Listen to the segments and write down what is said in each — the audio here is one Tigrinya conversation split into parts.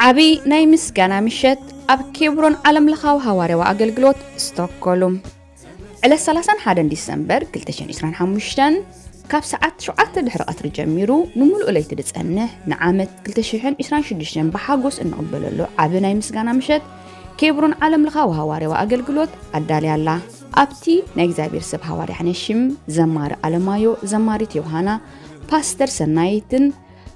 ዓቢ ናይ ምስጋና ምሸት ኣብ ኬብሮን ዓለምለኻዊ ሃዋርያዊ ኣገልግሎት ስቶክሆልም ዕለት 31 ዲሰምበር 2025 ካብ ሰዓት 7 ድሕሪ ቀትሪ ጀሚሩ ንምሉእ ለይቲ ዝጸንሕ ንዓመት 2026 ብሓጎስ እንቕበለሉ ዓቢ ናይ ምስጋና ምሸት ኬብሮን ዓለም ለኻዊ ሃዋርያዊ ኣገልግሎት ኣዳልያ ኣላ ኣብቲ ናይ እግዚኣብሔር ሰብ ሃዋርያ ሕነሽም ዘማሪ ኣለማዮ ዘማሪት ዮሃና ፓስተር ሰናይትን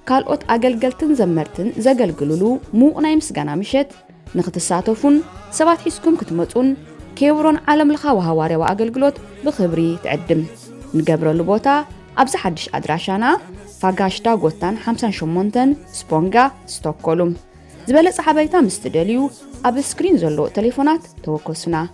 ካልኦት ኣገልገልትን ዘመርትን ዘገልግሉሉ ምዉቕ ናይ ምስጋና ምሸት ንክትሳተፉን ሰባት ሒዝኩም ክትመፁን ኬብሮን ዓለም ለኻዊ ሃዋርያዊ ኣገልግሎት ብኽብሪ ትዕድም ንገብረሉ ቦታ ኣብዚ ሓድሽ ኣድራሻና ፋጋሽ ዳጎታን 58 ስፖንጋ ስቶኮሉም ዝበለፀ ሓበሬታ ምስ ትደልዩ ኣብ ስክሪን ዘሎ ቴሌፎናት ተወከሱና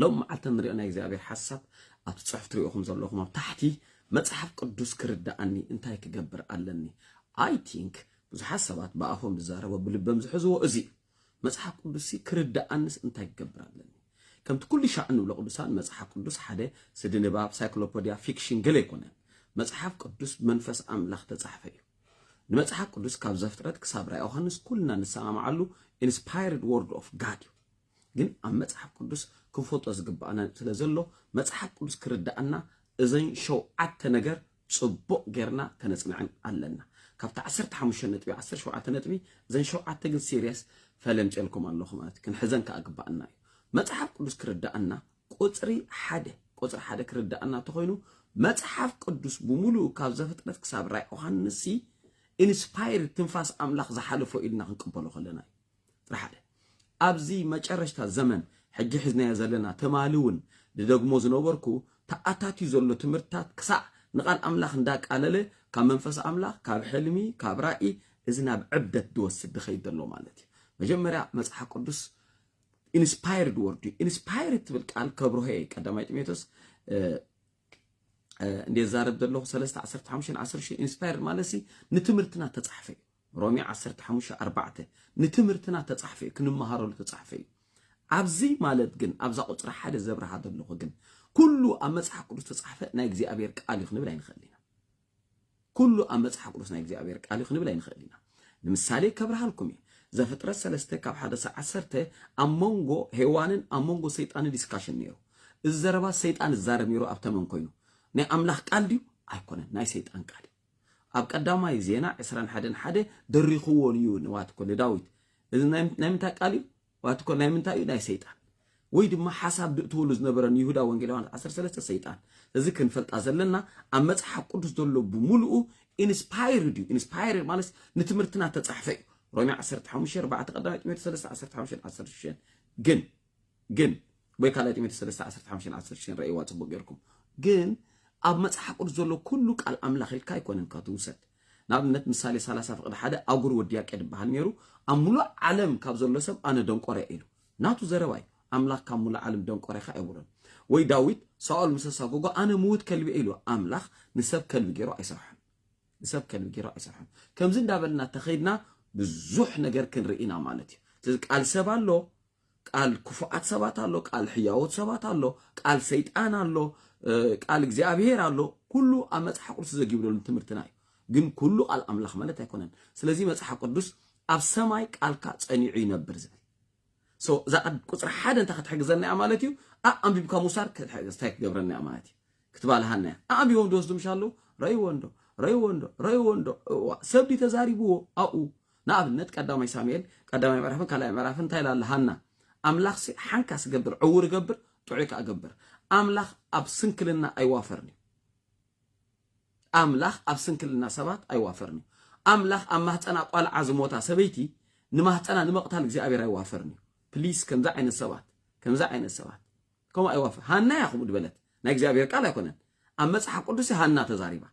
ሎም መዓልቲ ንሪኦ ናይ እግዚኣብሔር ሓሳብ ኣብቲ ጽሑፍ ትሪኦኹም ዘለኹም ኣብ ታሕቲ መጽሓፍ ቅዱስ ክርዳኣኒ እንታይ ክገብር ኣለኒ ኣይ ቲንክ ብዙሓት ሰባት ብኣፎም ዝዛረቦ ብልበም ዝሕዝዎ እዚ እዩ መጽሓፍ ቅዱስ ክርዳኣንስ እንታይ ክገብር ኣለኒ ከምቲ ኩሉ ሻዕ እንብሎ ቅዱሳን መጽሓፍ ቅዱስ ሓደ ስዲ ንባብ ሳይክሎፖዲያ ፊክሽን ገለ ኣይኮነን መጽሓፍ ቅዱስ ብመንፈስ ኣምላኽ ተጻሕፈ እዩ ንመጽሓፍ ቅዱስ ካብ ዘፍጥረት ክሳብ ራእይ ዮሃንስ ኩልና ንሰማምዓሉ ኢንስፓየርድ ወርድ ኦፍ ጋድ እዩ ግን ኣብ መጽሓፍ ቅዱስ ክንፈልጦ ዝግባኣና ስለ ዘሎ መጽሓፍ ቅዱስ ክርዳኣና እዘን ሸውዓተ ነገር ጽቡቕ ጌርና ከነጽንዐን ኣለና ካብቲ ዓሰርተ ሓሙሽተ ነጥቢ ዓሰርተ ሸውዓተ ነጥቢ እዘን ሸውዓተ ግን ሲርየስ ፈለምጨልኩም ኣለኹ ማለት ክንሕዘን ከዓ ግባኣና እዩ መጽሓፍ ቅዱስ ክርዳኣና ቁጽሪ ሓደ ቁጽሪ ሓደ ክርዳኣና ተኾይኑ መጽሓፍ ቅዱስ ብምሉኡ ካብ ዘፍጥረት ክሳብ ራእይ ዮሃንስ ኢንስፓየር ትንፋስ ኣምላኽ ዝሓለፎ ኢልና ክንቅበሎ ከለና እዩ ጥራሕ ኣለ። ኣብዚ መጨረሽታ ዘመን ሕጂ ሒዝናዮ ዘለና ትማሊ ውን ድደግሞ ዝነበርኩ ተኣታትዩ ዘሎ ትምህርትታት ክሳዕ ንቃል ኣምላኽ እንዳቃለለ ካብ መንፈስ ኣምላኽ ካብ ሕልሚ ካብ ራኢ እዚ ናብ ዕብደት ድወስድ ድኸይድ ዘሎ ማለት እዩ። መጀመርያ መጽሓፍ ቅዱስ ኢንስፓየርድ ወርድ እዩ። ኢንስፓየርድ ትብል ቃል ከብርሆ እየ ቀዳማይ ጢሞቴዎስ እንዴ ዛረብ ዘለኹ ሰለስተ ዓሰርተ ሓሙሽተን ዓሰርተ ሽዱሽተን ኢንስፓየርድ ማለት ሲ ንትምህርትና ተጻሕፈ እዩ። ሮሜ ዓሰርተ ሓሙሽተ ኣርባዕተ ንትምህርትና እተጻሕፈ እዩ፣ ክንመሃረሉ እተጻሕፈ እዩ። ኣብዚ ማለት ግን ኣብዛ ቁጽሪ ሓደ ዘብርሃ ዘለኹ ግን ኩሉ ኣብ መጽሓፍ ቅዱስ እተጻሕፈ ናይ እግዚኣብሔር ቃል እዩ ክንብል ኣይንኸእል ኢና። ኩሉ ኣብ መጽሓፍ ቅዱስ ናይ እግዚኣብሔር ቃል እዩ ክንብል ኣይንኸእል ኢና። ንምሳሌ ከብርሃልኩም እየ ዘፍጥረት ሰለስተ ካብ ሓደ ሰ ዓሰርተ ኣብ መንጎ ሄዋንን ኣብ መንጎ ሰይጣንን ዲስካሽን ነይሩ። እዚ ዘረባ ሰይጣን ዝዛረብ ነይሩ ኣብ ተመን ኮይኑ ናይ ኣምላኽ ቃል ድዩ ኣይኮነን፣ ናይ ሰይጣን ቃል እዩ። ኣብ ቀዳማይ ዜና ዕስራን ሓደን ሓደ ደሪኽዎን እዩ ንዋትኮ ንዳዊት እዚ ናይ ምንታይ ቃል እዩ ዋትኮ ናይ ምንታይ እዩ ናይ ሰይጣን ወይ ድማ ሓሳብ ድእትወሉ ዝነበረ ንይሁዳ ወንጌል ዮሃንስ ዓሰርተ ሰለስተ ሰይጣን እዚ ክንፈልጣ ዘለና ኣብ መጽሓፍ ቅዱስ ዘሎ ብምሉኡ ኢንስፓይርድ እዩ ኢንስፓይርድ ማለት ንትምህርትና ተጻሕፈ እዩ ሮሜ ዓሰርተ ሓሙሽተ ኣርባዕተ ቀዳማይ ጢሞቴዎስ ሰለስተ ዓሰርተ ሓሙሽተን ዓሰርተ ሽዱሽተን ግን ግን ወይ ካልኣይ ጢሞቴዎስ ሰለስተ ዓሰርተ ሓሙሽተን ዓሰርተ ሽዱሽተን ረእይዋ ጽቡቅ ጌርኩም ግን ኣብ መጽሓፍ ቅዱስ ዘሎ ኩሉ ቃል ኣምላኽ ኢልካ ኣይኮነን ካብ ትውሰድ ንኣብነት ምሳሌ ሰላሳ ፍቅዲ ሓደ ኣጉር ወዲ ያቄድ ይበሃል ነይሩ ኣብ ሙሉእ ዓለም ካብ ዘሎ ሰብ ኣነ ደንቆረ ኢሉ ናቱ ዘረባ እዩ ኣምላኽ ካብ ሙሉእ ዓለም ደንቆረ ኢኻ ኣይብሎን ወይ ዳዊት ሳኦል ምስ ኣሳጎጎ ኣነ ምውት ከልቢ ኢሉ ኣምላኽ ንሰብ ከልቢ ገይሩ ኣይሰርሖን ንሰብ ከልቢ ገይሩ ኣይሰርሖን ከምዚ እንዳበልና ተኸይድና ብዙሕ ነገር ክንርኢ ኢና ማለት እዩ ስለዚ ቃል ሰብ ኣሎ ቃል ክፉኣት ሰባት ኣሎ፣ ቃል ሕያዎት ሰባት ኣሎ፣ ቃል ሰይጣን ኣሎ፣ ቃል እግዚኣብሔር ኣሎ። ኩሉ ኣብ መጽሓፍ ቅዱስ ዘጊብ ዘሎ ትምህርትና እዩ። ግን ኩሉ ቃል ኣምላኽ ማለት ኣይኮነን። ስለዚ መጽሓፍ ቅዱስ ኣብ ሰማይ ቃልካ ጸኒዑ ይነብር ዝብል ሶ እዛ ቁፅሪ ሓደ እንታይ ክትሕግዘና እያ ማለት እዩ ኣንቢብካ ምውሳድ እንታይ ክገብረና እያ ማለት እዩ ክትባልሃና እያ ኣንቢቦም ድወስዱ ምሻ ኣለዉ ረይዎ እንዶ ረይዎ እንዶ ረይዎ እንዶ እዋ ሰብ ድዩ ተዛሪብዎ ኣብኡ ንኣብነት ቀዳማይ ሳሙኤል ቀዳማይ ምዕራፍን ካልኣይ ምዕራፍን እንታይ ላለ ሃና ኣምላኽሲ ሓንካስ ገብር ዕውር ገብር ጥዑይ ከዓ ገብር ኣምላኽ ኣብ ስንክልና ኣይዋፈርን እዩ ኣምላኽ ኣብ ስንክልና ሰባት ኣይዋፈርን እዩ ኣምላኽ ኣብ ማህፀና ቋልዓ ዝሞታ ሰበይቲ ንማህፀና ንምቕታል እግዚኣብሔር ኣይዋፈርን እዩ ፕሊስ ከምዚ ዓይነት ሰባት ከምዚ ዓይነት ሰባት ከምኡ ኣይዋፈር ሃና እያ ከምኡ ድበለት ናይ እግዚኣብሔር ቃል ኣይኮነን ኣብ መፅሓፍ ቅዱስ ሃና ተዛሪባ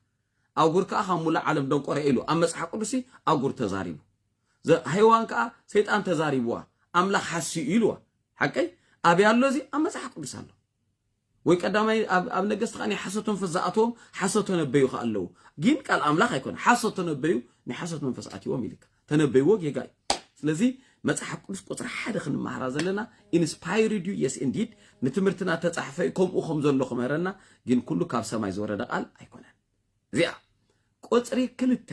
ኣጉር ከኣ ካብ ሙሉእ ዓለም ደንቆረ'የ ኢሉ ኣብ መጽሓፍ ቅዱስሲ ኣጉር ተዛሪቡ ዘ ሄዋን ከኣ ሰይጣን ተዛሪብዋ ኣምላኽ ሓስዩ ኢልዋ ሓቀይ ኣብያ ኣሎ እዚ ኣብ መጽሓፍ ቅዱስ ኣሎ ወይ ቀዳማይ ኣብ ኣብ ነገስት ከኣ ናይ ሓሶት መንፈስ ዝኣተዎም ሓሶት ተነበዩ ከኣ ኣለዉ ግን ቃል ኣምላኽ ኣይኮነ ሓሶት ተነበዩ ናይ ሓሶት መንፈስ ኣትዎም ኢልካ ተነበይዎ ጌጋ እዩ ስለዚ መጽሓፍ ቅዱስ ቁጽሪ ሓደ ክንመሃራ ዘለና ኢንስፓይርድ ዩ የስ ኢንዲድ ንትምህርትና ተጻሕፈ እዩ ከምኡ ከም ዘሎ ክምህረና ግን ኩሉ ካብ ሰማይ ዝወረደ ቃል ኣይኮነን እዚኣ ቁጽሪ ክልተ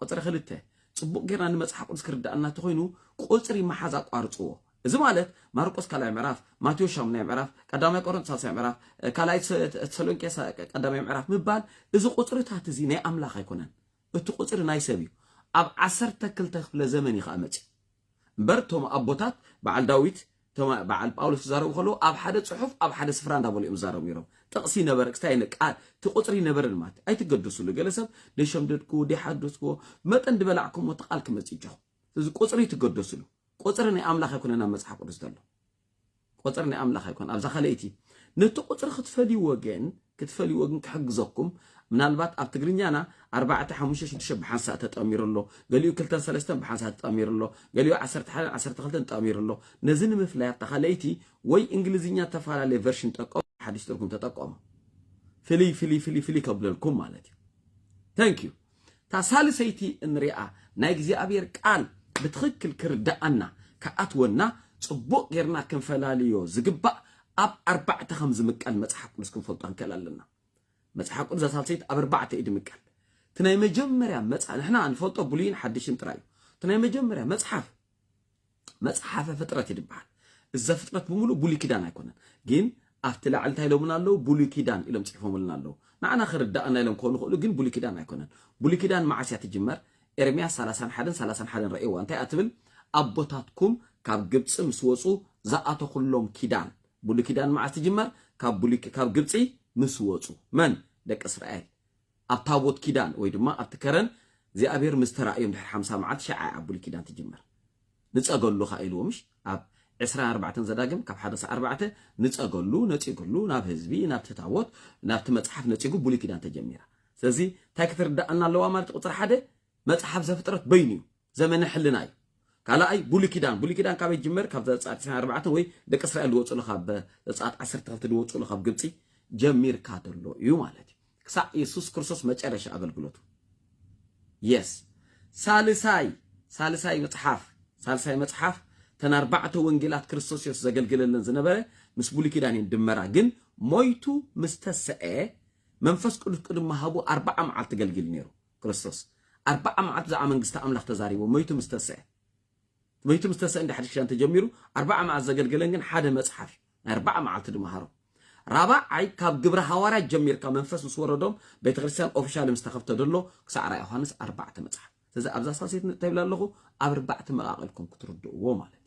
ቁጽሪ ክልተ ጽቡቅ ጌርና ንመጽሓፍ ቅዱስ ክርዳእና እንተኮይኑ ቁጽሪ መሓዝ ኣቋርጽዎ እዚ ማለት ማርቆስ ካልኣይ ምዕራፍ ማቴዎስ ሻሙናይ ምዕራፍ ቀዳማይ ቆሮንቶስ ሳልሳይ ምዕራፍ ካልኣይ ተሰሎንቄ ቀዳማይ ምዕራፍ ምባል እዚ ቁጽርታት እዚ ናይ ኣምላኽ ኣይኮነን እቲ ቁጽሪ ናይ ሰብ እዩ ኣብ ዓሰርተ ክልተ ክፍለ ዘመን እዩ ከኣ መጺኡ እምበር እቶም ኣቦታት በዓል ዳዊት እቶም በዓል ጳውሎስ ዝዛረቡ ከለዉ ኣብ ሓደ ጽሑፍ ኣብ ሓደ ስፍራ እንዳበሉ እዮም ዝዛረቡ ነይሮም ጥቕሲ ነበረ ክስታይ ነ ቃል እቲ ቁጽሪ ነበረን ማለት ኣይትገደሱሉ ገለ ሰብ ደሸምደድኩዎ ደሓደስኩዎ መጠን ድበላዕኩሞ እቲ ቃል ክመጽእ ይጀኹ ስለዚ ቁጽሪ ትገደሱሉ ቁጽሪ ናይ ኣምላኽ ኣይኮነን ኣብ መጽሓፍ ቅዱስ ዘሎ ቁጽሪ ናይ ኣምላኽ ኣይኮን ኣብዛ ካልኣይቲ ነቲ ቁጽሪ ክትፈልይዎ ግን ክትፈልይዎ ግን ክሕግዘኩም ምናልባት ኣብ ትግርኛና ኣርባዕተ ሓሙሽተ ሽዱሽተ ብሓንሳእ ተጠሚሩ ኣሎ ገሊኡ ክልተን ሰለስተን ብሓንሳእ ተጠሚሩ ኣሎ ገሊኡ ዓሰርተ ሓደን ዓሰርተ ክልተን ተጠሚሩ ኣሎ ነዚ ንምፍላይ ኣብታ ካልኣይቲ ወይ እንግሊዝኛ ተፈላለየ ቨርሽን ጠቀሙ ሓድሽ ትርጉም ተጠቀሙ ፍልይ ፍልይ ፍልይ ፍልይ ከብለልኩም ማለት እዩ ተንክ ዩ እታ ሳልሰይቲ እንሪኣ ናይ እግዚኣብሔር ቃል ብትኽክል ክርደኣና ክኣትወና ፅቡቅ ገይርና ክንፈላልዮ ዝግባእ ኣብ ኣርባዕተ ከም ዝምቀል መፅሓፍ ቅዱስ ክንፈልጦ ክንክእል ኣለና መፅሓፍ ቅዱስ እዛ ሳልሰይቲ ኣብ ኣርባዕተ እዩ ድምቀል እቲ ናይ መጀመርያ መፅሓፍ ንሕና ንፈልጦ ብሉይን ሓድሽን ጥራይ እዩ እቲ ናይ መጀመርያ መፅሓፍ መጽሓፈ ፍጥረት እዩ ድበሃል እዘ ፍጥረት ብምሉ ብሉይ ኪዳን ኣይኮነን ግን ኣብቲ ላዕሊ እንታይ ኢሎምና ኣለዉ ብሉይ ኪዳን ኢሎም ጽሒፎምልና ኣለዉ ንዓና ክርዳኣና ኢሎም ክኾኑ ይኽእሉ ግን ብሉይ ኪዳን ኣይኮነን ብሉይ ኪዳን መዓስ እያ ትጅመር ኤርምያስ ሰላሳን ሓደን ሰላሳን ሓደን ረእይዋ እንታይ እያ ትብል ኣቦታትኩም ካብ ግብጺ ምስ ወጹ ዝኣተኹሎም ኪዳን ብሉይ ኪዳን መዓስ ትጅመር ካብ ብሉይ ካብ ግብጺ ምስ ወጹ መን ደቂ እስራኤል ኣብ ታቦት ኪዳን ወይ ድማ ኣብቲ ከረን እግዚኣብሔር ምስ ተራእዮም ድሕሪ ሓምሳ መዓልቲ ሽዓ እያ ብሉይ ኪዳን ትጅምር። ንጸገሉ ከኣ ኢልዎ ምሽ ኣብ ዕስራን ኣርባዕተን ዘዳግም ካብ ሓደ ክሳዕ ኣርባዕተ ንጸገሉ ነጺግሉ ናብ ህዝቢ ናብቲ ታቦት ናብቲ መጽሓፍ ነጺጉ ብሉይ ኪዳን ተጀሚራ። ስለዚ እንታይ ክትርድኣና ኣለዋ ማለት ቁጽሪ ሓደ መጽሓፍ ዘፍጥረት በይኑ እዩ ዘመነ ሕልና እዩ ካልኣይ ብሉይ ኪዳን ብሉይ ኪዳን ካበይ ይጅመር ካብ ዘጸኣት 24 ወይ ደቂ እስራኤል ዝወጽሉ ካብ ዘጸኣት 12 ዝወጽሉ ካብ ግብጺ ጀሚርካ ዘሎ እዩ ማለት እዩ ክሳዕ የሱስ ክርስቶስ መጨረሻ ኣገልግሎቱ የስ ሳልሳይ ሳልሳይ መጽሓፍ ሳልሳይ መጽሓፍ ተን ኣርባዕተ ወንጌላት ክርስቶስ የሱስ ዘገልግለለን ዝነበረ ምስ ብሉይ ኪዳን እየን ድመራ ግን ሞይቱ ምስ ተስዐ መንፈስ ቅዱስ ቅድሚ ሃቡ ኣርባዓ መዓልቲ ገልግል ነይሩ ክርስቶስ ኣርብዓ መዓልቲ ብዛዕባ መንግስቲ ኣምላኽ ተዛሪቡ መይቱ ምስ ተሰአ መይቱ ምስ ተሰአ እንደ ሓድሽ ኪዳን ተጀሚሩ ኣርብዓ መዓልቲ ዘገልገለን ግን ሓደ መጽሓፍ እዩ ናይ ኣርብዓ መዓልቲ ድማ ሃሮም ራብዓይ ካብ ግብረ ሃዋርያት ጀሚርካ መንፈስ ምስ ወረዶም ቤተ ክርስቲያን ኦፊሻል ምስ ተኸፍተ ደሎ ክሳዕ ራእይ ዮሃንስ ኣርባዕተ መጽሓፍ ስለዚ ኣብዛ ሳሴት እንታይ ይብላ ኣለኹ ኣብ ኣርባዕተ መቃቐልኩም ክትርድእዎ ማለት እዩ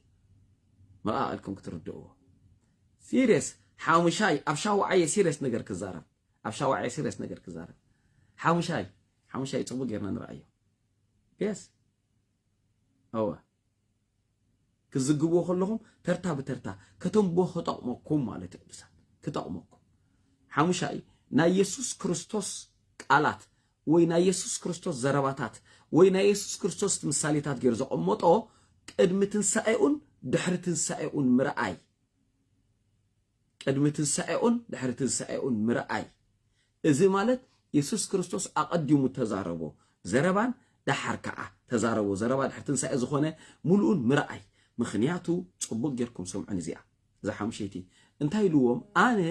መቃቐልኩም ክትርድእዎ ሲሪየስ ሓሙሻይ ኣብ ሻውዓየ ሲሪየስ ነገር ክዛረብ ኣብ ሻውዓይ ሲሪየስ ነገር ክዛረብ ሓሙሻይ ሓሙሻይ ፅቡቅ ጌርና ንርኣዮ የስ እወ ክዝግብዎ ከለኹም ተርታ ብተርታ ከተንብቦ ክጠቕመኩም ማለት እዩ ቅዱሳት ክጠቕመኩም ሓሙሻይ ናይ የሱስ ክርስቶስ ቃላት ወይ ናይ የሱስ ክርስቶስ ዘረባታት ወይ ናይ የሱስ ክርስቶስ ምሳሌታት ገይሩ ዘቐመጦ ቅድሚ ትንሳኤኡን ድሕሪ ትንሳኤኡን ምርኣይ ቅድሚ ትንሳኤኡን ድሕሪ ትንሳኤኡን ምርኣይ፣ እዚ ማለት የሱስ ክርስቶስ ኣቐዲሙ እተዛረቦ ዘረባን ደሓር ከኣ እተዛረቦ ዘረባ ድሕሪ ትንሳኤ ዝኾነ ምሉእን ምርኣይ፣ ምኽንያቱ ጽቡቕ ጌርኩም ስምዑኒ እዚኣ እዛ ሓሙሸይቲ፣ እንታይ ኢልዎም ኣነ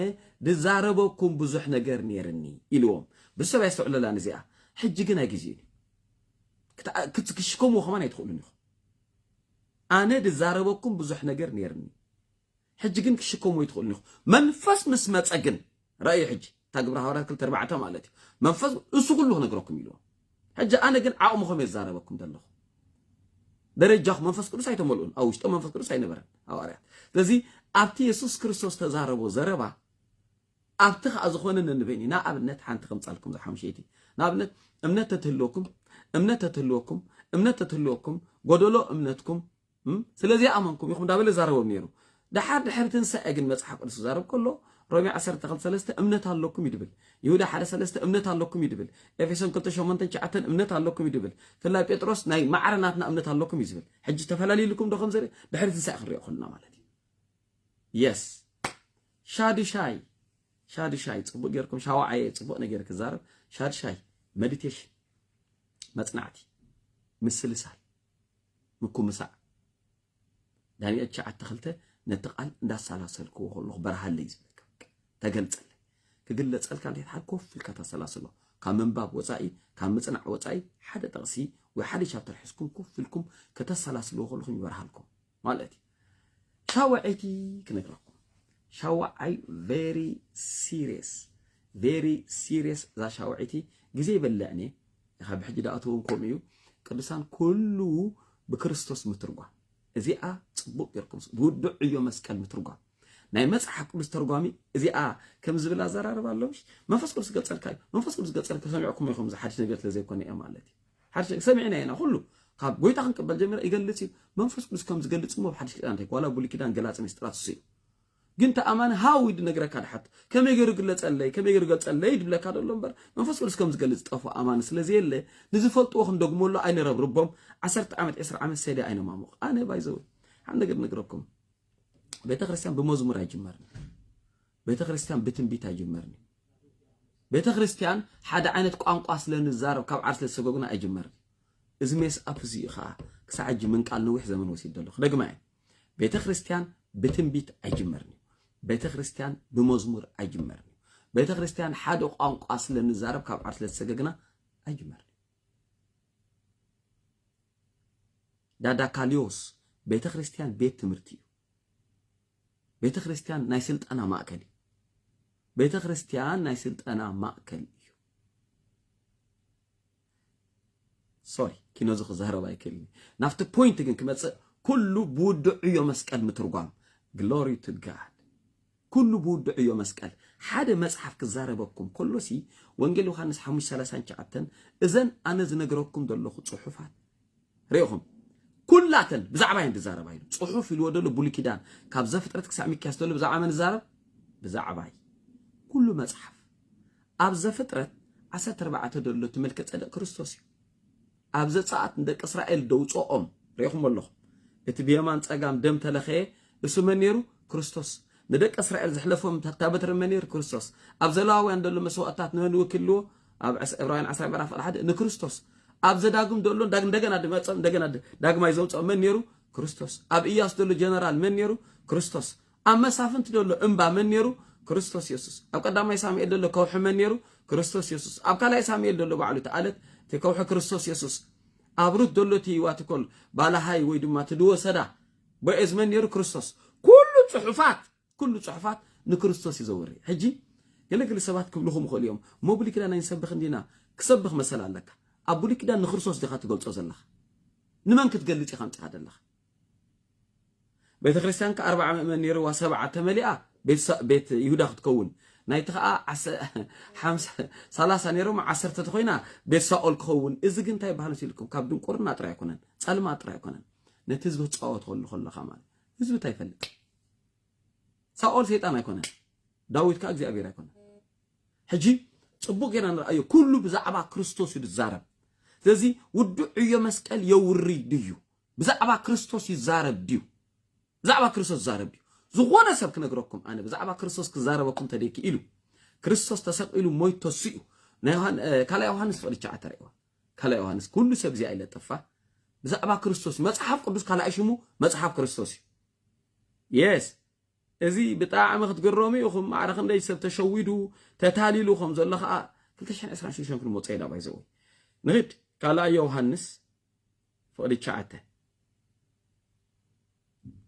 ድዛረበኩም ብዙሕ ነገር ኔርኒ ኢልዎም፣ ብዙሕ ሰብ ኣየስተውዕለላን እዚኣ፣ ሕጂ ግን ኣይግዜኡን እዩ። ክት ክት ክሽከምዎ ከማን ኣይትኽእሉን ኢኹም። ኣነ ድዛረበኩም ብዙሕ ነገር ኔርኒ። ሕጂ ግን ክትሽከሙ ኣይትኽእሉን ኢኹም። መንፈስ ምስ መጸ ግን፣ ርኣዩ ሕጂ፣ እታ ግብሪ ሃዋርያት ክልተ ኣርባዕተ ማለት እዩ፣ መንፈስ እሱ ኩሉ ክነግረኩም ኢልዎ። ሕጂ ኣነ ግን ዓቕምኹም እየ ዝዛረበኩም ዘለኹ። ደረጃኹም መንፈስ ቅዱስ ኣይተመልኡን፣ ኣብ ውሽጦም መንፈስ ቅዱስ ኣይነበረን ሃዋርያት። ስለዚ ኣብቲ የሱስ ክርስቶስ ተዛረቦ ዘረባ ኣብቲ ከዓ ዝኾነ ነንበይን እዩ። ንኣብነት ሓንቲ ከምጻልኩም ዝሓምሸይቲ ንኣብነት እምነት ተትህልወኩም እምነት ተትህልወኩም እምነት ተትህልወኩም ጎደሎ እምነትኩም ስለ ዘይኣመንኩም ኢኹም እንዳበለ ይዛረቦም ነይሩ። ደሓር ድሕሪ ትንሳኤ ግን መጽሓፍ ቅዱስ ክዛረብ ከሎ ሮሜ ዓሰርተ ክልተ ሰለስተ እምነት ኣለኩም እዩ ድብል። ይሁዳ ሓደ ሰለስተ እምነት ኣለኩም እዩ ድብል። ኤፌሶን ክልተ ሸሞንተን ትሽዓተን እምነት ኣለኩም እዩ ድብል። ፍላይ ጴጥሮስ ናይ ማዕረ ናትና እምነት ኣለኩም እዩ ዝብል። ሕጂ ተፈላልዩልኩም ዶ ከምዚ ድሕሪ ትንሳኤ ክንሪኦ ከለና ማለት እዩ። የስ ሻዱሻይ ሻዱሻይ ጽቡቅ ጌርኩም ሻዋዓየ ጽቡቅ ነገር ክዛረብ ሻዱሻይ መዲቴሽን መጽናዕቲ ምስልሳል ምኩምሳዕ ዳንኤል ትሽዓተ ክልተ ነቲ ቃል እንዳሰላሰልክዎ ከለኹ በርሃለይ ዝብለካ በቃ ተገልጸለይ ክግለጸልካ እንዴት ሓድ ኮፍ ኢልካ ተሰላስሎ ካብ ምንባብ ወጻኢ ካብ ምጽናዕ ወጻኢ ሓደ ጥቕሲ ወይ ሓደ ቻፕተር ሕዝኩም ኮፍ ኢልኩም ከተሰላስልዎ ከለኹም ይበርሃልኩም ማለት እዩ ሻውዐይቲ ክነግረኩም ሻውዓይ ቨሪ ሲሪየስ ቨሪ ሲሪየስ እዛ ሻውዐይቲ ግዜ ይበልዕኒ እየ ካብ ብሕጂ ዳኣትውን ከምኡ እዩ ቅዱሳን ኩሉ ብክርስቶስ ምትርጓም እዚኣ ጽቡቅ ጌርኩም ብውዱዕ ዕዮ መስቀል ምትርጓም ናይ መጽሓፍ ቅዱስ ተርጓሚ እዚኣ ከም ዝብል ኣዘራርባ ኣለውሽ መንፈስ ቅዱስ ገጸልካ እዩ መንፈስ ቅዱስ ገጸልካ ሰሚዕኩም ኢኹም ዝሓድሽ ነገር ስለ ዘይኮነ እየ ማለት እዩ ሓድሽ ሰሚዕና ኢና ኩሉ ካብ ጎይታ ክንቅበል ጀሚረ ይገልጽ እዩ መንፈስ ቅዱስ ከም ዝገልጽ እሞ ኣብ ሓድሽ ኪዳን እንታይ ዋላ ብሉይ ኪዳን ገላጽ ምስጢራት እሱ እዩ ግን ተኣማኒ ሃው ይድ ነግረካ ድሓት ከመይ ገይሩ ግለጸለይ ከመይ ገይሩ ገልጸለይ ድብለካ ደሎ እምበር መንፈስ ቅዱስ ከም ዝገልጽ ጠፉ ኣማኒ ስለ ዘየለ ንዝፈልጥዎ ክንደግመሉ ኣይንረብርቦም ዓሰርተ ዓመት ዕስራ ዓመት ሰድያ ኣይነማሙቕ ኣነ ባይዘው ሓደ ነገር ነግረኩም ቤተ ክርስቲያን ብመዝሙር ኣይጅመርን ቤተክርስትያን ብትንቢት ኣይጅመርን እዩ። ቤተክርስትያን ሓደ ዓይነት ቋንቋ ስለ ንዛረብ ካብ ዓር ስለ ዝሰገጉና ኣይጅመርን እዩ። እዚ ሜስ ኣፕ እዚ እዩ ከዓ ክሳዕ ሕጂ ምንቃል ነዊሕ ዘመን ወሲድ ዘሎ ክደግማ እየ። ቤተክርስትያን ብትንቢት ኣይጅመርን እዩ። ቤተክርስትያን ብመዝሙር ኣይጅመርን እዩ። ቤተክርስትያን ሓደ ቋንቋ ስለ ንዛረብ ካብ ዓር ስለ ዝሰገግና ኣይጅመርን ዳዳካልዮስ ቤተ ክርስቲያን ቤት ትምህርቲ እዩ ቤተ ክርስቲያን ናይ ስልጠና ማእከል እዩ። ቤተ ክርስቲያን ናይ ስልጠና ማእከል እዩ። ሶሪ ኪኖዚ ክዛረብ ኣይክእልን ናብቲ ፖይንት ግን ክመፅእ ኩሉ ብውድዕ ዕዮ መስቀል ምትርጓም ግሎሪ ቱ ጋድ ኩሉ ብውድዕ ዕዮ መስቀል ሓደ መፅሓፍ ክዛረበኩም ከሎሲ ወንጌል ዮሃንስ ሓሙሽተ ሰላሳን ሸዓተን እዘን ኣነ ዝነግረኩም ዘለኹ ፅሑፋት ሪኢኹም ኩላተን ብዛዕባ እየን ዝዛረባ ኢሉ ጽሑፍ ኢልዎ ዘሎ ብሉይ ኪዳን ካብ ዘፍጥረት ክሳዕ ሚክያስ ዘሎ ብዛዕባ መን ዝዛረብ ብዛዕባ እዩ ኩሉ መጽሓፍ ኣብ ዘፍጥረት ዓሰርተ ኣርባዕተ ዘሎ እቲ መልከ ጸደቅ ክርስቶስ እዩ ኣብ ዘጸኣት ንደቂ እስራኤል ደውፅኦም ሪኢኹም ኣለኹም እቲ ብየማን ጸጋም ደም ተለኸየ እሱ መን ነይሩ ክርስቶስ ንደቂ እስራኤል ዘሕለፎም ታበትሪ መን ነይሩ ክርስቶስ ኣብ ዘለዋውያን ዘሎ መስዋእትታት ንመን ወኪልዎ ኣብ ዕስ ዕብራውያን ዓስራይ ምዕራፍ ቕል ሓደ ንክርስቶስ ኣብ ዘዳግም ደሎ ዳግ እንደገና ድመጸ እንደገና ድ- ዳግማይ ዘውጽኦ መን ነይሩ? ክርስቶስ። ኣብ እያሱ ደሎ ጀነራል መን ነይሩ? ክርስቶስ። ኣብ መሳፍንቲ ደሎ እምባ መን ነይሩ? ክርስቶስ የሱስ። ኣብ ቀዳማይ ሳሙኤል ደሎ ከውሒ መን ነይሩ? ክርስቶስ የሱስ። ኣብ ካልኣይ ሳሙኤል ደሎ ባዕሉ እቲ ኣለት እቲ ከውሒ ክርስቶስ የሱስ። ኣብ ሩት ደሎ እቲ ዋትኮል ባላሃይ ወይ ድማ እቲ ድወ ሰዳ ቦኤዝ መን ነይሩ? ክርስቶስ። ኩሉ ጽሑፋት ኩሉ ጽሑፋት ንክርስቶስ እዩ ዘወሪ። ሕጂ ገለ ገለ ሰባት ክብሉኹም ይኽእሉ እዮም፣ እሞ ብሉይ ኪዳን ኣይንሰብኽን ዲና? ክሰብኽ መሰል ኣለካ። ኣብ ብሉይ ኪዳን ንክርስቶስ ዲኻ ትገልጾ ዘለኻ? ንመን ክትገልጽ ኢኻ ኣምጺኻ ዘለኻ? ቤተ ክርስቲያንካ ኣርባዓ ምእመን ነይርዋ ሰብዓ ተመሊኣ ቤት ይሁዳ ክትከውን ናይቲ ከዓ ሰላሳ ነይሮም ዓሰርተ ተኮይና ቤት ሳኦል ክኸውን እዚ ግን እንታይ ባህል ሲልኩም ካብ ድንቁርና ጥራይ ኣይኮነን ጸልማት ጥራይ ኣይኮነን ነቲ ህዝቢ ክጻወት ከሉ ከለኻ ማለት ህዝቢ እንታይ ይፈልጥ ሳኦል ሰይጣን ኣይኮነን፣ ዳዊት ከኣ እግዚኣብሔር ኣይኮነን። ሕጂ ጽቡቅ ጌና ንርኣዮ፣ ኩሉ ብዛዕባ ክርስቶስ እዩ ዝዛረብ። ስለዚ ውዲ ዕዮ መስቀል የውሪ ድዩ? ብዛዕባ ክርስቶስ ይዛረብ ድዩ? ብዛዕባ ክርስቶስ ይዛረብ ድዩ? ዝኾነ ሰብ ክነግረኩም ኣነ ብዛዕባ ክርስቶስ ክዛረበኩም ተደኪ ኢሉ ክርስቶስ ተሰቂሉ ሞይት ተስኡ ካልኣ ዮሃንስ ፍቅዲ ቻዓ ተርእዋ ካልኣ ዮሃንስ ኩሉ ሰብ እዚኣ ይለጠፋ ብዛዕባ ክርስቶስ መጽሓፍ ቅዱስ ካልኣይ ሽሙ መጽሓፍ ክርስቶስ እዩ የስ እዚ ብጣዕሚ ክትግረሙ ኢኹም ማዕረ ክንደይ ሰብ ተሸዊዱ ተታሊሉ ከም ዘሎ ከዓ 226 ክንመፆ ኢና ባይዘወይ ንኽድ ካልኣይ ዮሃንስ ፍቕዲ ሸዓተ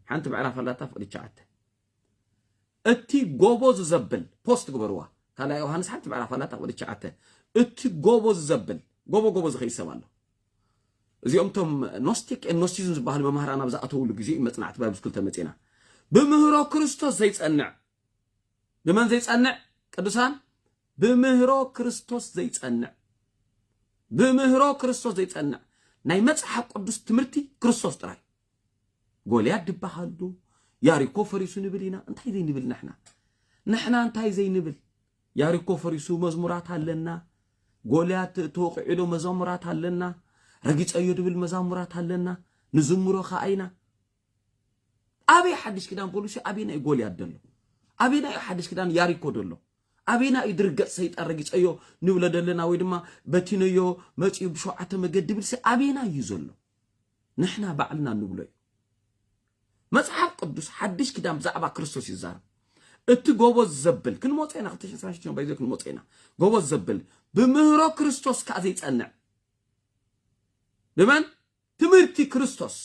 ሓንቲ ምዕራፍ ኣላታ ፍቕዲ ሸዓተ እቲ ጎቦ ዝዘብል ፖስት ግበርዋ ካልኣይ ዮሃንስ ሓንቲ ምዕራፍ ኣላታ ፍቕዲ ሸዓተ እቲ ጎቦ ዝዘብል ጎቦ ጎቦ ዝኸይድ ሰብ ኣሎ እዚኦም እቶም ኖስቲክ ን ኖስቲዝም ዝበሃሉ መማህራን ኣብ ዝኣተውሉ ግዜ እዩ መጽናዕቲ ባይብስ ክልተ መጺና ብምህሮ ክርስቶስ ዘይጸንዕ ብመን ዘይጸንዕ ቅዱሳን ብምህሮ ክርስቶስ ዘይጸንዕ ብምህሮ ክርስቶስ ዘይጸንዕ ናይ መጽሓፍ ቅዱስ ትምህርቲ ክርስቶስ ጥራይ ጎልያድ ድበሃሉ ያሪኮ ፈሪሱ ንብል ኢና እንታይ ዘይንብል ንሕና ንሕና እንታይ ዘይንብል ያሪኮ ፈሪሱ መዝሙራት ኣለና፣ ጎልያት ተወቂዑዶ መዛሙራት ኣለና፣ ረጊጸዮ ድብል መዛሙራት ኣለና፣ ንዝምሮ ከኣ ኢና። ኣበይ ሓድሽ ኪዳን ፖሊሲ ኣበይና እዩ ጎልያት ደሎ ኣበይና እዩ ሓድሽ ኪዳን ያሪኮ ደሎ ኣበይና እዩ ድርገጽ ሰይጣን ረጊጸዮ ንብሎ ደለና ወይ ድማ በቲነዮ መጺኡ ብሸውዓተ መገዲ ብልሲ ኣበይና እዩ ዘሎ ንሕና ባዕልና እንብሎ እዩ። መጽሓፍ ቅዱስ ሓድሽ ኪዳን ብዛዕባ ክርስቶስ እዩ ዝዛረብ። እቲ ጎበዝ ዘብል ክንመጾ ኢና ክልተ ሽሕን ሽዱሽተን ባይዘ ክንመጾ ኢና ጎበዝ ዘብል ብምህሮ ክርስቶስ ከዓ ዘይጸንዕ ብመን ትምህርቲ ክርስቶስ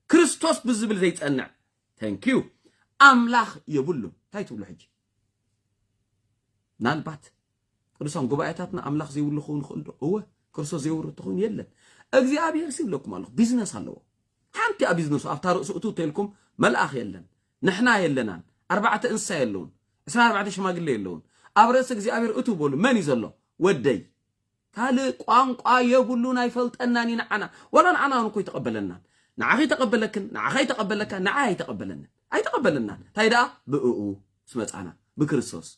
ክርስቶስ ብዝብል ዘይጸንዕ ተንኪዩ ኣምላኽ የብሉን እንታይ ትብሉ ሕጂ ምናልባት ቅዱሳን ጉባኤታትና ኣምላኽ ዘይብሉ ክኸውን ይኽእል ዶ? እወ ክርስቶስ ዘይወርድ እንተኾይኑ የለን። እግዚኣብሄርሲ ይብለኩም ኣለኹ ቢዝነስ ኣለዎ። ሓንቲ እያ ቢዝነሱ ኣብታ ርእሱ እቱ ተልኩም መልኣኽ የለን፣ ንሕና የለናን፣ ኣርባዕተ እንስሳ የለውን፣ ዕስራን ኣርባዕተ ሽማግለ የለውን። ኣብ ርእሲ እግዚኣብሄር እቱ በሉ መን እዩ ዘሎ? ወደይ ካልእ ቋንቋ የብሉን ኣይፈልጠናን እዩ ንዓና ወላ ንዓና እውን እኮ ይተቐበለናን ንዓኺ ይተቐበለክን ንዓኻ ይተቐበለካ ንዓይ ኣይተቐበለንን ኣይተቐበለናን እንታይ ደኣ ብእኡ ስመፃና ብክርስቶስ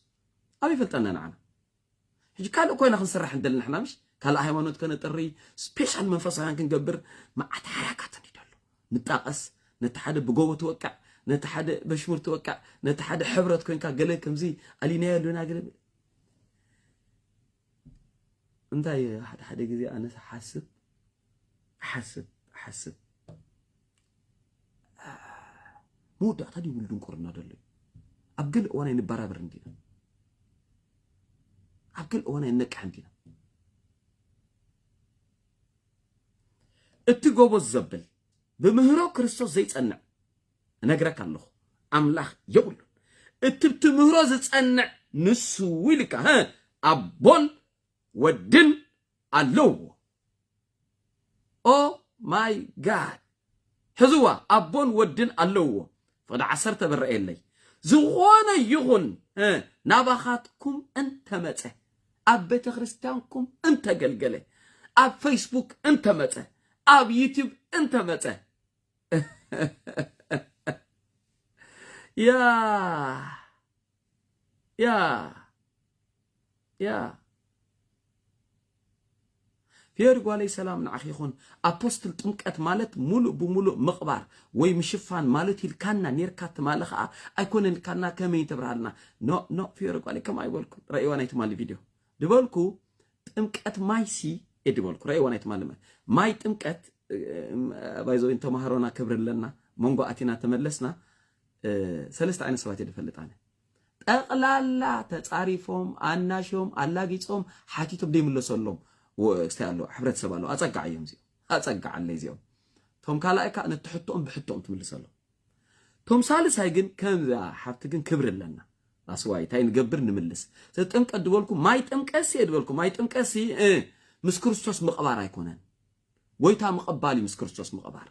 ኣበይ ይፈልጠና ንዓና ሕጂ ካልእ ኮይና ክንስራሕ ንደሊ ንሕና ምሽ ካልእ ሃይማኖት ከነጥሪ ስፔሻል መንፈሳውያን ክንገብር መዓት ሓራካት እንዲ ደሎ ንጣቐስ ነቲ ሓደ ብጎቦ ትወቅዕ ነቲ ሓደ በሽሙር ትወቅዕ ነቲ ሓደ ሕብረት ኮንካ ገለ ከምዚ ኣሊናዮ ኣለና ገለ እንታይ ሓደ ሓደ ግዜ ኣነስ ሓስብ እሓስብ እሓስብ መወዳእታ ድይብሉ ድንቁርና ደሎ ኣብ ገለ እዋን ኣይንበራበር እንዲና ኣብ ገለ እዋን ኣይነቅሕ እንዲና እቲ ጎበዝ ዘብል ብምህሮ ክርስቶስ ዘይጸንዕ እነግረካ ኣለኹ ኣምላኽ የብሉን እቲ ብትምህሮ ዝጸንዕ ንሱ ኢልካ ኣቦን ወድን ኣለዎ ኦህ ማይ ጋድ ሕዝዋ ኣቦን ወድን ኣለዎ ፍቕዲ ዓሰርተ ብረኤለይ ዝኾነ ይኹን ናባኻትኩም እንተመፀ ኣብ ቤተ ክርስቲያንኩም እንተገልገለ ኣብ ፌስቡክ እንተመፀ ኣብ ዩቲዩብ እንተመፀ ያ يا يا ፌድ ጓለይ ሰላም ንዓኺ ይኹን ኣፖስትል ጥምቀት ማለት ሙሉእ ብሙሉእ ምቕባር ወይ ምሽፋን ማለት ኢልካና ኔርካ ትማሊ ከዓ ኣይኮነን ኢልካና ከመይ ተብርሃልና ኖ ኖ ፌድ ጓለይ ከም ኣይበልኩ ረእዋ ናይ ትማሊ ቪድዮ ድበልኩ ጥምቀት ማይሲ እየ ድበልኩ ረእዋ ናይ ትማሊ ማይ ጥምቀት ባይዘወይን ተማሃሮና ክብሪ ኣለና መንጎ ኣቲና ተመለስና ሰለስተ ዓይነት ሰባት እየ ዝፈልጥ ኣነ ጠቕላላ ተፃሪፎም ኣናሽዮም ኣላጊፆም ሓቲቶም ዘይምለሰሎም ስታይ ኣሎ ሕብረተሰብ ኣሎ ኣፀጋዕ እዮም እዚኦም ኣፀጋዕ ኣለይ እዚኦም እቶም ካልኣይ ከዓ ነቲ ሕቶኦም ብሕቶኦም ትምልሰሎም እቶም ሳልሳይ ግን ከምዛ ሓብቲ ግን ክብሪ ኣለና ኣስዋይ እንታይ ንገብር ንምልስ ዘጥምቀት ዝበልኩ ማይ ጥምቀሲ እየ ዝበልኩ ማይ ጥምቀሲ ምስ ክርስቶስ ምቕባር ኣይኮነን ጎይታ ምቕባል እዩ ምስ ክርስቶስ ምቕባር።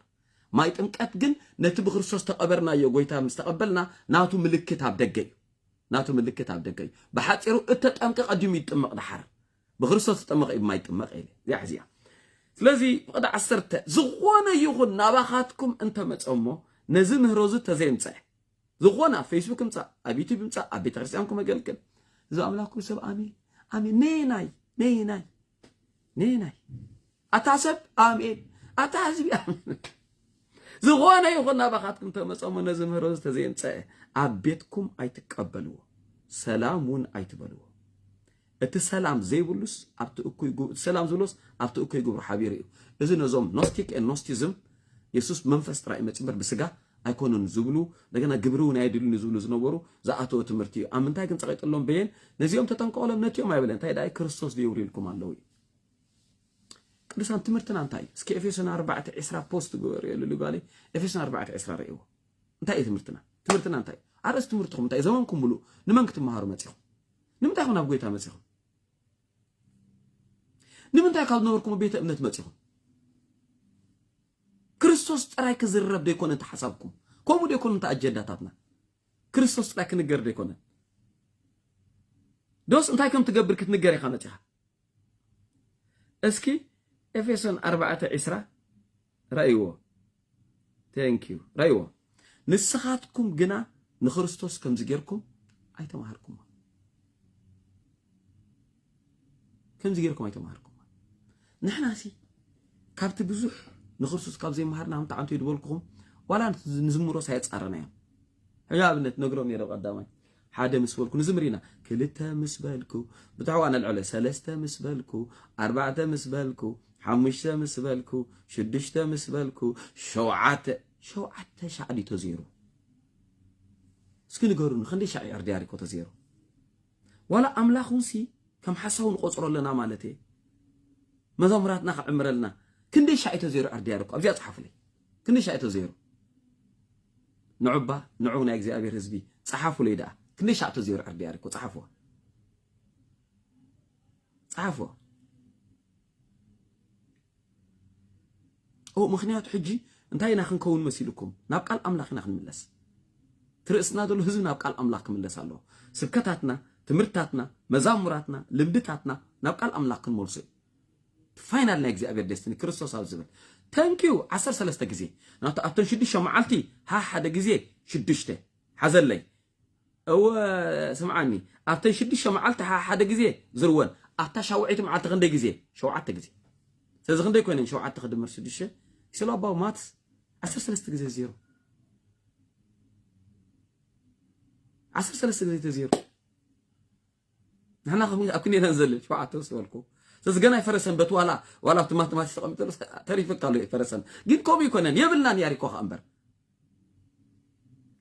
ማይ ጥምቀት ግን ነቲ ብክርስቶስ ተቐበርናዮ ጎይታ ምስ ተቐበልና ናቱ ምልክት ኣብ ደገ እዩ። ናቱ ምልክት ኣብ ደገ እዩ። ብሓጺሩ እተጠምቀ ቀዲሙ እዩ ዝጥመቕ ደሓር ብክርስቶስ ዝጠመቐ እዩ ማይ ጥመቕ ኢለ እዚኣ ሕዚያ ስለዚ ፍቕዲ ዓሰርተ ዝኾነ ይኹን ናባኻትኩም እንተመጸ እሞ ነዚ ምህሮ እዚ ተዘየምጸዐ ዝኾነ ኣብ ፌስቡክ ምጻእ ኣብ ዩቱብ ምጻእ ኣብ ቤተ ክርስቲያንኩም ኣገልግል እዚ ኣምላኩ ሰብ ኣሜን ኣሜን ነየናይ ነየናይ ነየናይ ኣታ ሰብ ኣሜን ኣታ ህዝቢ ዝኾነ ይኹን ናባኻትኩም ተመፀሞ ነዚ ምህሮ ዝተዘየምፀአ ኣብ ቤትኩም ኣይትቀበልዎ፣ ሰላም እውን ኣይትበልዎ። እቲ ሰላም ዘይብሉስ ኣብቲ እኩይ እቲ ሰላም ዝብሎስ ኣብቲ እኩይ ግብሩ ሓቢሩ እዩ። እዚ ነዞም ኖስቲክ ኖስቲዝም የሱስ መንፈስ ጥራይ መፂ እምበር ብስጋ ኣይኮኑን ዝብሉ እንደገና ግብሪ እውን ኣይድልዩን ዝብሉ ዝነበሩ ዝኣተወ ትምህርቲ እዩ ኣብ ምንታይ ግን ጸቂጥሎም በየን ነዚኦም ተጠንቀቕሎም ነቲኦም ኣይበለን እንታይ ደኣ ክርስቶስ ደየብሉ ኢልኩም ኣለዉ እዩ ቅዱሳን ትምህርትና እንታይ እዩ እስኪ ኤፌሶን ኣርባዕተ ዕስራ ፖስት ግበሩ የልሉ ጓለይ ኤፌሶን ኣርባዕተ ዕስራ ርእይዎ እንታይ እዩ ትምህርትና ትምህርትና እንታይ እዩ ኣርእስቲ ትምህርትኹም እንታይ ዘመንኩም ሙሉእ ንመን ክትመሃሩ መፂኹም ንምንታይ ኹን ኣብ ጎይታ መፂኹም ንምንታይ ካብ ዝነበርኩም ቤተ እምነት መፂኹም ክርስቶስ ጥራይ ክዝረብ ዶ ኣይኮነን እቲ ሓሳብኩም? ከምኡ ዶ ኣይኮነን እቲ ኣጀንዳታትና? ክርስቶስ ጥራይ ክንገር ዶ ኣይኮነን? ዶስ እንታይ ከም ትገብር ክትንገር ኢኻ መጺኻ? እስኪ ኤፌሶን ኣርባዕተ ዒስራ ረእይዎ ቴንኪዩ ረእይዎ ንስኻትኩም ግና ንክርስቶስ ከምዚ ጌርኩም ኣይተማሃርኩሞ ከምዚ ጌርኩም ኣይተማሃርኩምዎን። ንሕናሲ ካብቲ ብዙሕ ንክርስቶስ ካብ ዘይመሃርና እንታይ ኣንተ ዝበልኩኹም ዋላ ንዝምሮስ ኣየጻረናዮም። ሕጂ ኣብነት ነግሮም ነይረ ቀዳማይ ሓደ ምስ በልኩ ንዝምር ኢና ክልተ ምስ በልኩ ብትሕዋ ነልዕለ ሰለስተ ምስ በልኩ ኣርባዕተ ምስ በልኩ ሓሙሽተ ምስ በልኩ ሽዱሽተ ምስ በልኩ ሸውዓተ ሸውዓተ ሻዕ ድዩ ተዘይሩ እስኪ ንገሩኒ ክንደይ ሻዕ ዕርዲ ኣሪኮ ተዘይሩ ዋላ ኣምላኽ ውን ሲ ከም ሓሳዊ ንቆጽሮ ኣለና ማለት እየ መዘሙራትና ክዕምረልና ክንደይ ሻዕ እዩ ተዘይሩ ኣርድያዶ እኮ ኣብዚኣ ጽሓፉለይ ክንደይ ሻዕ እዩ ተዘይሩ ንዑባ ንዑ ናይ እግዚኣብሔር ህዝቢ ጽሓፉለይ ደኣ ክንደይ ሻዕ ተዘይሩ ኣርድያዶ እኮ ጽሓፍዋ ጽሓፍዋ ኦው ምኽንያቱ ሕጂ እንታይ ኢና ክንከውን መሲሉኩም ናብ ቃል ኣምላኽ ኢና ክንምለስ እቲ ርእስና ዘሎ ህዝቢ ናብ ቃል ኣምላኽ ክምለስ ኣለዎ ስብከታትና ትምህርታትና መዛሙራትና ልምድታትና ናብ ቃል ኣምላኽ ክንመልሶ እዩ ፋይናል ናይ እግዚኣብሔር ደስትኒ ክርስቶስ ኣብ ዝብል ተንኪዩ ዓሰርተ ሰለስተ ግዜ ናቱ ኣብተን ሽዱሽተ መዓልቲ ሓደ ግዜ ሽዱሽተ ሓዘለይ እወ ስምዓኒ ኣብተን ሽዱሽተ መዓልቲ ሓሓደ ግዜ ዝርወን ኣብታ ሻውዐይቲ መዓልቲ ክንደይ ግዜ ሸውዓተ ግዜ ስለዚ ክንደይ ኮይነን ሸውዓተ ክድምር ሽዱሽተ ስለ ኣባው ማትስ ዓሰርተ ሰለስተ ግዜ ዜሮ ዓሰርተ ሰለስተ ግዜ ተዜሮ ንሕና ኣብ ክንዲ ኢና ንዘልል ሸውዓተ ምስ በልኩ ስለዚ ገና ኣይፈረሰን በቲ ዋላ ዋላ ኣብቲ ማትማቲክስ ተቐሚጠሉ ተሪፍካ ኣሎ ኣይፈረሰን ግን ከምኡ ይኮነን የብልናን ያሪኮ ከዓ እምበር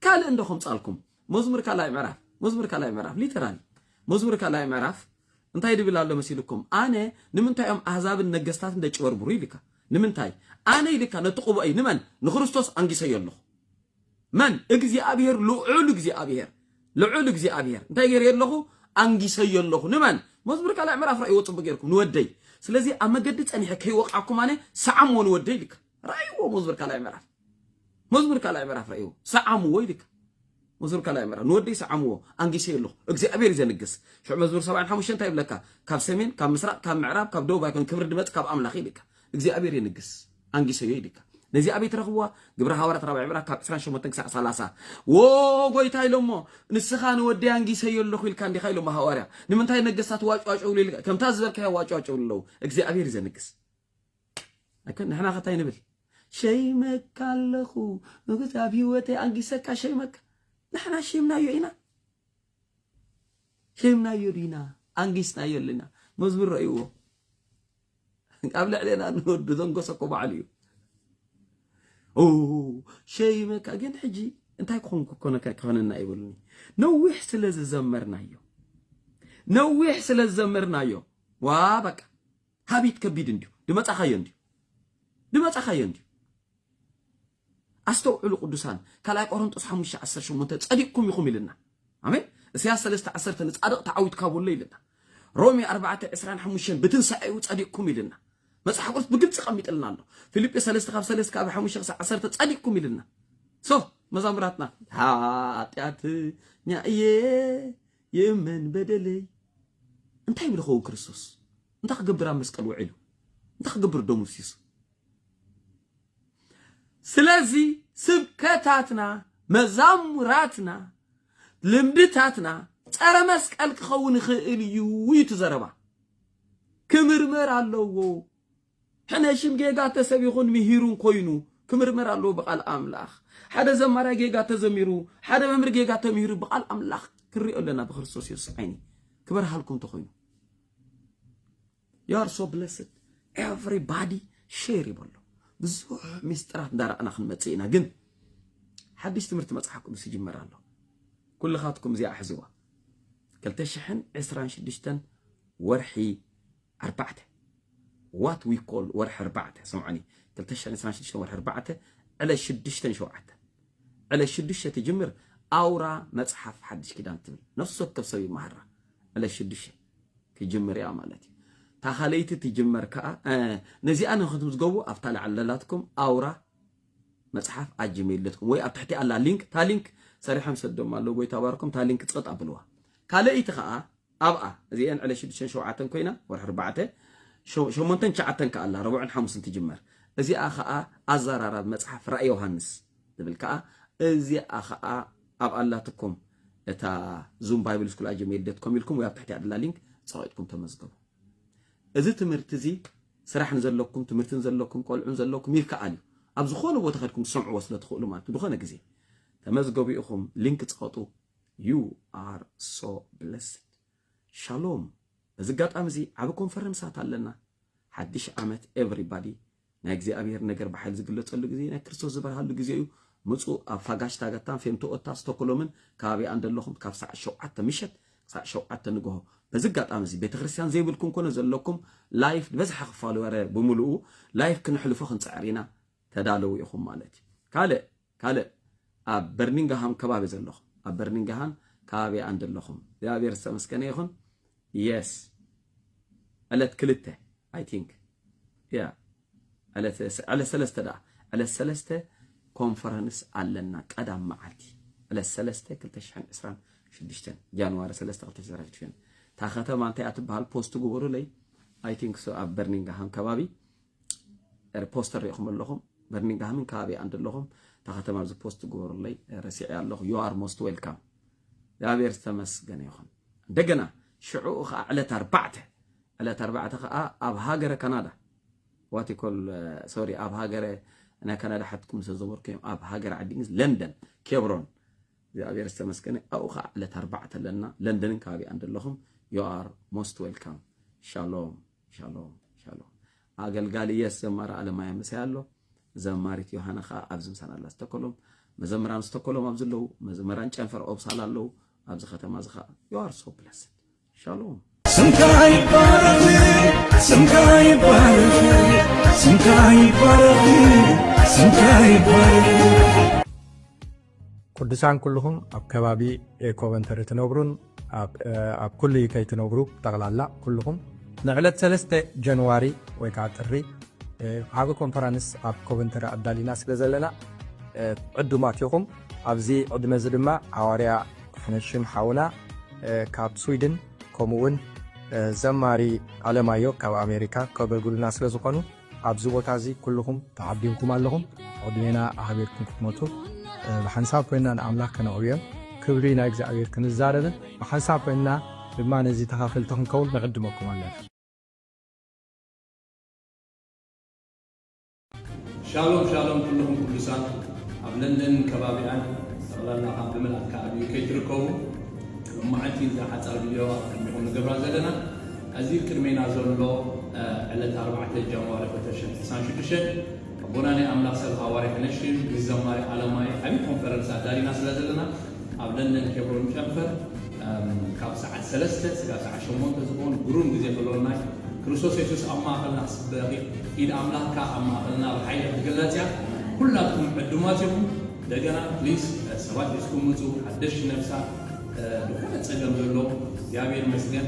ካልእ እንዶ ከምፃልኩም መዝሙር ካልኣይ ምዕራፍ መዝሙር ካልኣይ ምዕራፍ ሊተራሊ መዝሙር ካልኣይ ምዕራፍ እንታይ ድብል ኣሎ መሲልኩም ኣነ ንምንታይ እዮም ኣህዛብን ነገስታትን ደጭበርብሩ ኢልካ ንምንታይ ኣነ ኢልካ ነቲ ቅቡኣይ ንመን ንክርስቶስ ኣንጊሰዮ ኣለኹ መን እግዚኣብሄር ልዑል እግዚኣብሄር ልዑል እግዚኣብሄር እንታይ ገይረዮ ኣለኹ ኣንጊሰዮ ኣለኹ ንመን መዝሙር ካልኣይ ምዕራፍ ራእይዎ ጽቡቅ ገይርኩም ንወደይ ስለዚ ኣብ መገዲ ጸኒሐ ከይወቃኩም ኣነ ሰዓምዎ ንወደይ ልካ ራእይዎ መዝሙር ካልኣይ ምዕራፍ መዝሙር ካልኣይ ምዕራፍ ራእይዎ ሰዓምዎ ይልካ መዝሙር ካልኣይ ምዕራፍ ንወደይ ሰዓምዎ ኣንጊሰዮ ኣለኹ እግዚኣብሄር እዩ ዘንግስ ሽዑ መዝሙር ሰብዓን ሓሙሽተ እንታይ ይብለካ ካብ ሰሜን ካብ ምስራቅ ካብ ምዕራብ ካብ ደቡብ ኣይኮን ክብሪ ድመጽ ካብ ኣምላኽ ይልካ እግዚኣብሄር የንግስ ኣንጊሰዮ ኢልካ ነዚ ኣበይ ትረኽብዋ ግብረ ሃዋርያት ራብዕ ምዕራፍ ካብ 28 ክሳዕ 30 ዎ ጎይታ ኢሎሞ ንስኻ ንወደይ ኣንጊሰዮ ኣለኹ ኢልካ እንዲኻ ኢሎሞ ሃዋርያ ንምንታይ ነገስታት ዋጭዋጭ ብሉ ኢልካ ከምታ ዝበልካዮ ዋጭዋጭ ብሉ ኣለዉ እግዚኣብሔር ዘንግስ ኣይኮን ንሕና ከታይ ንብል ሸይመካ ኣለኹ ንጉስ ኣብ ህይወተይ ኣንጊሰካ ሸይመካ ንሕና ሸይምናዮ ኢና ኬምናዮ ዲና ኣንጊስናዮ ኣለና መዝሙር ረእይዎ ኣብ ልዕሌና ንወዱ ዘንጎሰኮ ባዕሉ እዩ ሸይመካ ግን ሕጂ እንታይ ክኾንኩ ኮነካ ክኾነና ይብሉኒ ነዊሕ ስለ ዝዘመርናዮ ነዊሕ ስለ ዝዘመርናዮ ዋ በቃ ሃቢት ከቢድ እንዲዩ ድመፃኻዮ እንዲዩ ድመፃኻዮ እንዲዩ ኣስተውዕሉ ቅዱሳን ካልኣይ ቆሮንጦስ ሓሙሽተ ዓሰርተ ሸሞንተ ጸዲቅኩም ኢኹም ኢልና ኣሜን እሰያስ ሰለስተ ዓሰርተ ንጻድቅ ተዓዊት ካብ ኣሎ ኢልና ሮሜ ኣርባዕተ ዕስራን ሓሙሽተን ብትንሳኤኡ ጸዲቅኩም ኢልና መጽሓፍ ቅዱስ ብግልጺ ቀሚጥልና ኣሎ ፊልጵ ሰለስተ ካብ ሰለስተ ካብ ሓሙሽተ ክሳብ ዓሰርተ ጸዲቅኩም ኢልና ሶ መዛሙራትና ሓጢኣተኛ እየ ይእመን በደለይ እንታይ ይብል ኸውን ክርስቶስ እንታይ ክገብር ኣብ መስቀል ውዒሉ እንታይ ክገብር ደሙ ሲሱ ስለዚ ስብከታትና መዛሙራትና ልምድታትና ጸረ መስቀል ክኸውን ይኽእል እዩ እዩ እቲ ዘረባ ክምርመር ኣለዎ ሕነ ሽም ጌጋ ተሰቢኹን ምሂሩን ኮይኑ ክምርመር ኣለዎ ብቃል ኣምላኽ ሓደ ዘማራይ ጌጋ ተዘሚሩ ሓደ መምህር ጌጋ ተምሂሩ ብቃል ኣምላኽ ክንሪኦ ኣለና ብክርስቶስ የሱስ ዓይኒ ክበርሃልኩም ተኾይኑ ዩ ኣር ሶ ብለስድ ኤቨሪባዲ ሼር ይበሎ ብዙሕ ሚስጥራት እንዳረኣና ክንመፅእ ኢና ግን ሓድሽ ትምህርቲ መፅሓፍኩም ዝጅመር ኣሎ ኩልኻትኩም እዚኣ ሕዝዋ 226 ወርሒ ኣርባዕተ ዋት ዊ ኮል ወርሒ ኣርባዕተ ስምዖኒ 226 ወርሒ ኣርባዕተ ዕለ ሽዱሽተን ሸውዓተ ዕለ ሽዱሽተ ትጅምር ኣውራ መፅሓፍ ሓድሽ ኪዳን ትብል ነፍሲ ወከፍ ሰብ ይመሃራ ዕለ ሽዱሽተ ክጅምር እያ ማለት እዩ። እታ ካልኣይቲ ትጅመር ከዓ ነዚኣ ንክትምዝገቡ ኣብታ ላዕሊ ለላትኩም ኣውራ መፅሓፍ ኣጅሜል ዶት ኮም ወይ ኣብ ትሕቲ ኣላ ሊንክ እታ ሊንክ ሰሪሖም ሰዶም ኣለዉ ጎይታ ባርኮም እታ ሊንክ ፀጥ ኣብልዋ ካልኣይቲ ከዓ ኣብኣ እዚአን ዕለ ሽዱሽተን ሸውዓተን ኮይና ወርሒ ኣርባዕተ ሸሞንተን ትሽዓተን ከዓ ኣላ ረቡዕን ሓሙስን ትጅመር እዚኣ ከዓ ኣዘራራቢ መፅሓፍ ራእይ ዮሃንስ ዝብል ከዓ እዚኣ ከዓ ኣብ ኣላትኩም እታ ዙም ባይብል ስኩል ኣጀሚሪ ዶት ኮም ኢልኩም ወይ ኣብ ትሕቲኣ ድላ ሊንክ ጸቂጥኩም ተመዝገቡ። እዚ ትምህርቲ እዚ ስራሕ ንዘለኩም ትምህርቲ ንዘለኩም ቆልዑ ንዘለኩም ይከኣል እዩ። ኣብ ዝኾነ ቦታ ከድኩም ትሰምዕዎ ስለ ትኽእሉ ማለት እዩ። ዝኾነ ግዜ ተመዝገቡ ኢኹም ሊንክ ጸቐጡ። ዩ ኣር ሶ ብለስድ ሻሎም። በዚ ኣጋጣሚ እዚ ዓቢ ኮንፈረንሳት ኣለና ሓድሽ ዓመት ኤቨሪባዲ ናይ እግዚኣብሔር ነገር ብሓይል ዝግለጸሉ ግዜ ናይ ክርስቶስ ዝበርሃሉ ግዜ እዩ ምጹ ኣብ ፋጋሽታጋታን ፌምቶኦታ ስቶኮሎምን ከባቢኣን ዘለኹም ካብ ሰዓት ሸውዓተ ምሸት ክሳዕ ሸውዓተ ንግሆ በዚ ኣጋጣሚ እዚ ቤተ ክርስቲያን ዘይብልኩም ኮነ ዘለኩም ላይፍ ዝበዝሓ ክፋሉ ወረ ብምልኡ ላይፍ ክንሕልፎ ክንጽዕር ኢና ተዳለዉ ኢኹም ማለት እዩ ካልእ ካልእ ኣብ በርኒንጋሃም ከባቢ ዘለኹም ኣብ በርኒንጋሃም ከባቢ ኣን ዘለኹም እግዚኣብሔር ዝተመስገነ ይኹን የስ ዕለት ክልተ ኣይ ቲንክ ያ ዕለት ዕለት ሰለስተ ደኣ ዕለት ሰለስተ ኮንፈረንስ ኣለና ቀዳም መዓልቲ ዕለት ሰለስተ ክልተ ሽሕን ዕስራን ሽዱሽተን ጃንዋሪ ሰለስተ ክልተ ሽሕን ሽዱሽተን እታ ከተማ እንታይ እያ ትበሃል ፖስት ግበሩለይ ኣይ ቲንክ ሶ ኣብ በርኒንጋሃም ከባቢ ፖስተር ሪኢኹም ኣለኹም በርሚንግሃምን ከባቢኣን ዘለኹም እታ ከተማ ኣብዚ ፖስት ግበሩለይ ረሲዐ ኣለኹ ዩ ኣር ሞስት ዌልካም እግዚኣብሔር ዝተመስገነ ይኹን እንደገና ሽዑኡ ከዓ ዕለት ኣርባዕተ ዕለት ኣርባዕተ ከዓ ኣብ ሃገረ ካናዳ ዋቲኮል ሶሪ ኣብ ሃገረ ናይ ካናዳ ሓትኩም ዝተዘበርኩ እዮም ኣብ ሃገረ ዓዲ እንግሊዝ ለንደን ኬብሮን እግዚኣብሔር ዝተመስገነ ኣብኡ ከዓ ዕለት ኣርባዕተ ኣለና ለንደንን ከባቢኣን ዘለኹም ዩ ኣር ሞስት ዌልካም ሻሎም ሻሎም ሻሎም ኣገልጋሊ የስ ዘማሪ ኣለማያ ምሳይ ኣሎ ዘማሪት ዮሃና ከዓ ኣብዚ ምሳና ኣላ ስተኮሎም መዘምራን ስተኮሎም ኣብዚ ኣለዉ መዘምራን ጨንፈር ኦብሳላ ኣለዉ ኣብዚ ከተማ እዚ ከዓ ዩኣር ሶ ብለስ ሻሎም ስምካ ይባረኽ ስምካ ይባረኽ ስምካ ይባረኽ ስምካ ይባረኽ ቅዱሳን ኩልኹም ኣብ ከባቢ ኮቨንተሪ ትነብሩን ኣብ ኩሉ ዩከይ ትነብሩ ጠቕላላ ኩልኹም ንዕለት 3 ጀንዋሪ ወይ ከዓ ጥሪ ዓብ ኮንፈረንስ ኣብ ኮቨንተሪ ኣዳሊና ስለ ዘለና ዕዱማት ኢኹም ኣብዚ ዕድመ እዚ ድማ ኣዋርያ ሕነሽም ሓውና ካብ ስዊድን ከምኡውን ዘማሪ ኣለማዮ ካብ ኣሜሪካ ከገልግሉና ስለ ዝኾኑ ኣብዚ ቦታ እዚ ኩሉኹም ተዓዲምኩም ኣለኹም ዕድሜና ኣኽቢርኩም ክትመጹ ብሓንሳብ ኮይንና ንኣምላኽ ከነዕብዮን ክብሪ ናይ እግዚኣብሔር ክንዛረብን ብሓንሳብ ኮይንና ድማ ነዚ ተኻፈልቲ ክንከውን ንዕድመኩም ኣለና። ሻሎም ሻሎም ኩሉኹም ቅዱሳን ኣብ ለንደንን ከባቢኣን ጠቕላላ ካብ ብመላእካ ኣብ UK ትርከቡ ሎማዓንቲ እዛ ሓጻር ቪድዮ ኣብ ቅድሚኹም ንገብራ ዘለና እዚ ቅድሜና ዘሎ ዕለት ኣርባዕተ ጃንዋሪ ክልተ ሽሕ ዕስራን ሽዱሽተን ኣቦና ናይ ኣምላኽ ሰብ ሃዋርያ ክነሽም ምስ ዘማሪ ኣለማየ ዓቢ ኮንፈረንስ ኣዳሊና ስለ ዘለና ኣብ ለንደን ኬብሮን ጨንፈር ካብ ሰዓት ሰለስተ ስጋብ ሰዓት ሸሞንተ ዝኸውን ግሩም ግዜ ክህልወና እዩ። ክርስቶስ የሱስ ኣብ ማእኸልና ክስበኽ እዩ። ኢድ ኣምላኽ ከኣ ኣብ ማእኸልና ብሓይሊ ክትግለጽ እያ። ኩላትኩም ዕዱማት ኢኹም። እንደገና please ሰባት ሒዝኩም ምጹ ሓደሽቲ ነፍሳት ብኾነ ጸገም ዘለዎም እግዚኣብሔር ይመስገን።